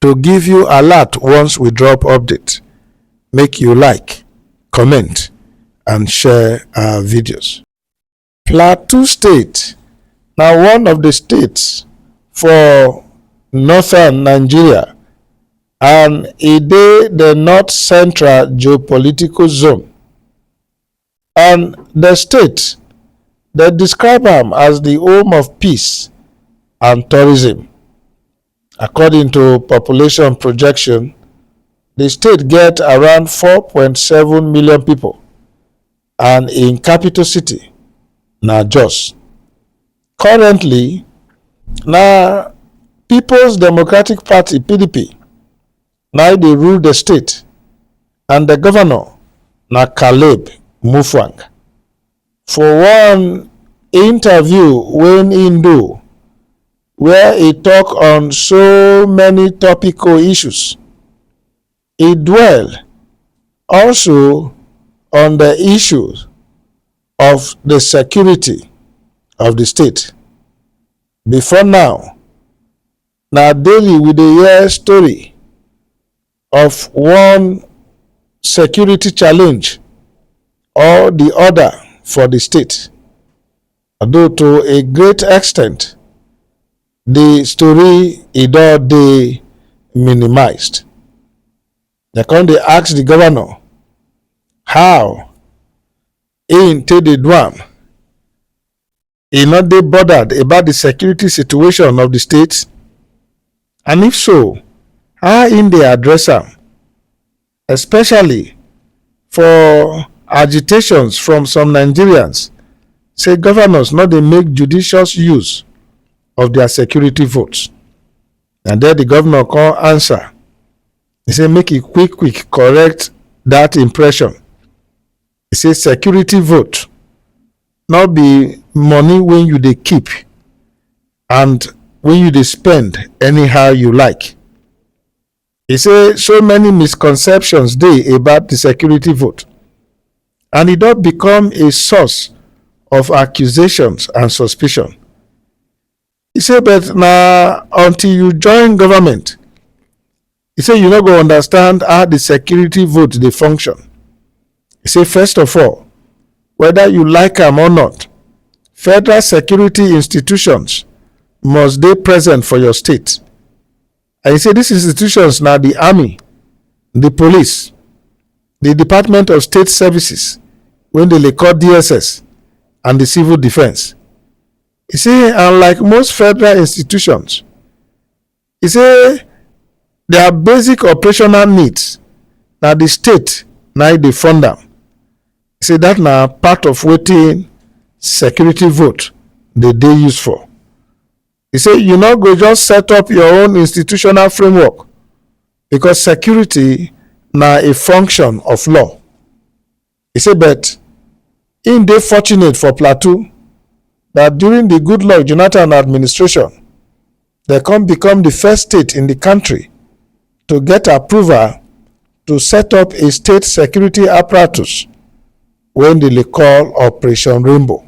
to give you alert once we drop update. Make you like, comment and share our videos. Plateau State na one of the states for northern Nigeria and e dey the north central geopolitical zone. and di state dem describe am as di home of peace and tourism. According to population projection, di state get around four point seven million pipo and im capital city na Jos. Currently, na Peoples Democratic Party, pdp, na e dey rule the state and the governor na Caleb Mufwang. For one interview wey im do where e talk on so many topical issues, e dwell also on the issue of the security of the state. Before now, Na daily we dey hear story of one security challenge or di oda for di state, although to a great extent di story e don dey minimised. Dem come dey ask di govnor how im take dey do am. e no dey bothered about di security situation of di state? And if so, how im dey address am, especially for agitations from some Nigerians say governors no dey make judicious use of their security votes. And then the governor come answer. He say make e quick quick correct that impression. He say security vote no be money when you dey keep and when you dey spend anyhow you like. He say so many misconceptions dey about the security vote and e don become a source of accusations and suspicion. He say, but na until you join government, he say you no go understand how the security vote dey function. He say, first of all, whether you like am or not, federal security institutions must dey present for your state. And e say dis institutions na di army, di police, di department of state services wey dem dey call dss and di civil defence. E say and like most federal institutions, e say dia basic operational needs na di state na im dey fund am. E say dat na part of wetin security vote dey dey used for. He say you no go just set up your own institutional framework because security na a function of law. He say but im dey fortunate for Plateau that during the Goodluck Jonathan administration, they come become the first state in the country to get approval to set up a state security apparatus when they call Operation Rainbow.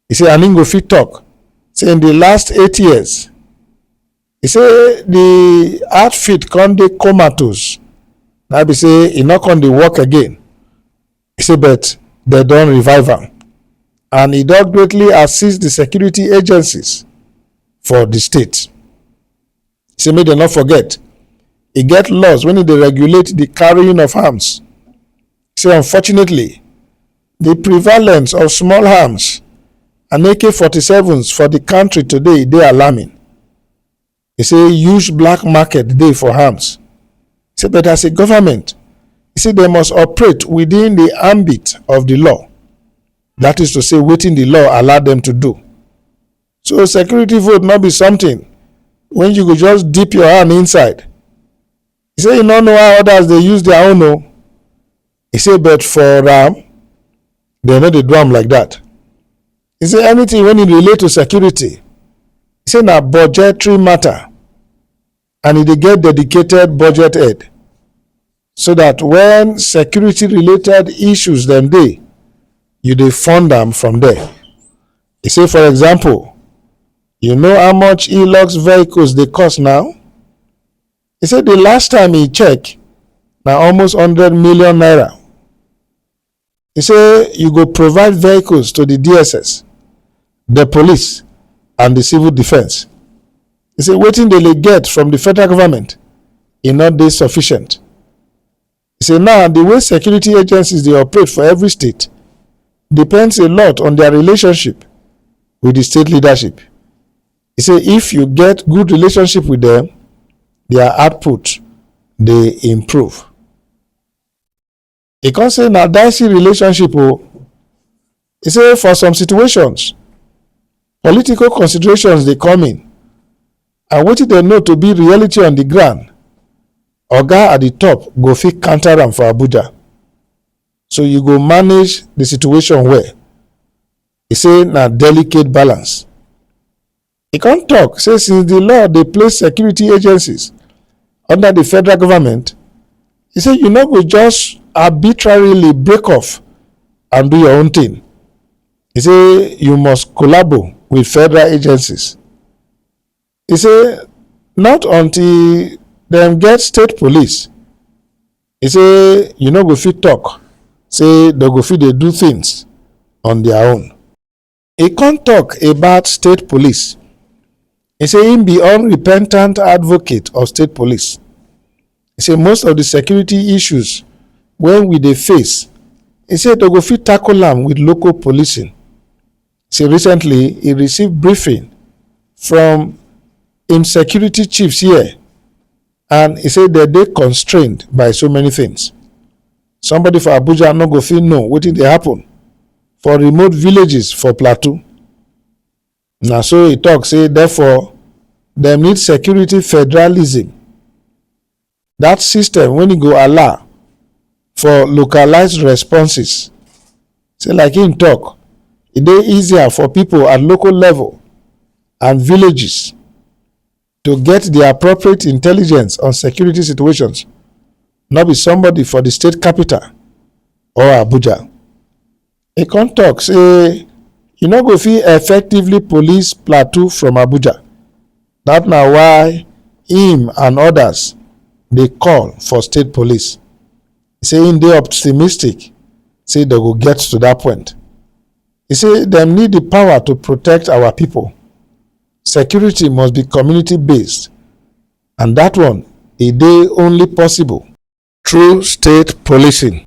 He say and im go fit talk say in the last eight years, he say the outfit come dey comatose na be say e no come dey work again. He say but dem don revive am and e don greatly assist the security agencies for the state. say make dem no forget e get laws when e dey regulate the carrying of arms say unfortunately the prevalence of small arms and ak-47s for the country today dey alarming e say huge black market dey for arms say but as a government e say dem must operate within the ambit of the law that is to say wetin the law allow dem to do So security vote not be something when you go just dip your hand inside. He say you no know how others dey use their own o. He say but for am, dem no dey do am like that. He say anything when e relate to security, he say na budgetary matter. and e dey get dedicated budget head so that when security related issues dem dey you dey fund am from there e say for example you know how much elux vehicles dey cost now e say the last time e check na almost hundred million naira e say you go provide vehicles to di dss de police and di civil defence e say wetin dem dey get from di federal government e no dey sufficient e say now di way security agencies dey operate for every state depends a lot on their relationship with di state leadership e say if you get good relationship with dem their output dey improve. e come say na dicey relationship o e say for some situations political considerations dey come in and wetin dem know to be reality on di ground oga at di top go fit counter am for abuja so you go manage di situation well e say na delicate balance E come talk say since the law dey place security agencies under the federal government, e say you no go just arbitrarily break off and do your own thing. E say you must collabo with federal agencies. E say not until dem get state police, e say you no go fit talk say dem go fit dey do things on their own. e come talk about state police e say im be unrepentant advocate of state police e say most of di security issues wey we dey face e say dem go fit tackle am wit local policing say recently e receive briefing from im security chiefs here And he say dem dey constrained by so many things. Somebody for Abuja no go fit know wetin dey happen for remote villages for Plateau. Na so he talk say therefore dem need security federalism, that system wey e go allow for localized responses. Say like him talk, e dey easier for people at local level and villages to get the appropriate intelligence on security situations, not be somebody for the state capital or Abuja. He come talk say you no go fit effectively police plateau from Abuja. That na why him and others dey call for state police. He say him dey optimistic say they go get to that point. He say dem need the power to protect our people security must be community based and that one e dey only possible through state policing.